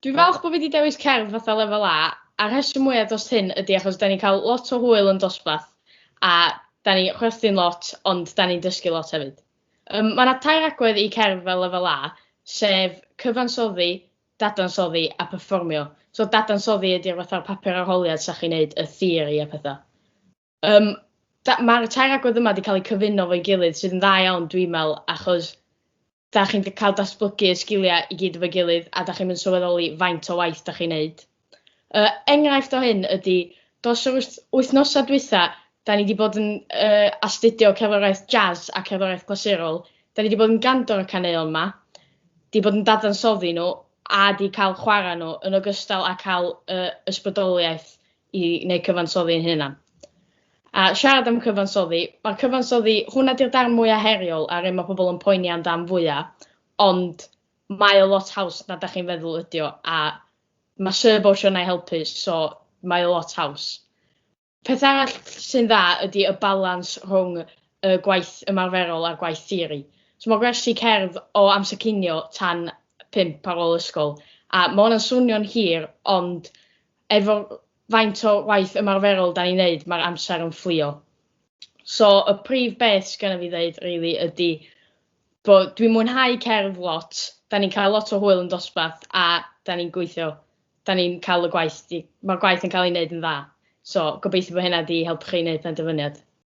Dwi'n falch bod fi 'di dewis cerdd fatha Lefel A, a'r rheswm mwya dros hyn ydi achos 'dan ni'n cael lot o hwyl yn dosbarth, a 'dan ni chwerthin lot ond 'dan ni'n dysgu lot hefyd. Yym ma' 'na tair agwedd i cerdd fel Lefel A, sef cyfansoddi, dadansoddi a perfformio. So dadansoddi ydi'r fatha'r papur arholiad 'sa chi'n neud y theori a petha. Yym, da- mae'r tair agwedd yma wedi cael eu cyfuno fo'i gilydd, sydd yn dda iawn, dwi'n meddwl, achos da chi'n cael datblygu y sgiliau i gyd efo'i gilydd, a da chi'n mynd sylweddoli faint o waith da chi'n neud. Uh, enghraifft o hyn ydy, dos yr wythnosau dwytha, da ni wedi bod yn uh, astudio cerddoriaeth jazz a cerddoriaeth glasurol, da ni wedi bod yn gandor y caneuon yma, wedi bod yn dadansoddi nhw, a wedi cael chwarae nhw, yn ogystal â cael uh, ysbrydoliaeth i neu cyfansoddi ein hunan. A siarad am cyfansoddi, mae cyfansoddi, hwnna di'r darn mwyaf heriol a'r un mae pobl yn poeni amdan fwya, ond mae o lot haws na da chi'n feddwl ydi o, a mae Sir Bosio na i helpu, so mae o lot haws. Peth arall sy'n dda ydy y balans rhwng y gwaith ymarferol a'r gwaith theori. So mae gwersi cerdd o amser cinio tan pump ar ôl ysgol, a mae hwnna'n swnio'n hir, ond efo faint o waith ymarferol da ni'n neud, mae'r amser yn fflio. So, y prif beth sydd gennym fi ddeud, really, ydy bod dwi'n mwynhau cerdd lot, da ni'n cael lot o hwyl yn dosbarth, a da ni'n gweithio, da ni'n cael y gwaith, mae'r gwaith yn cael ei wneud yn dda. So, gobeithio bod hynna wedi helpu chi wneud penderfyniad.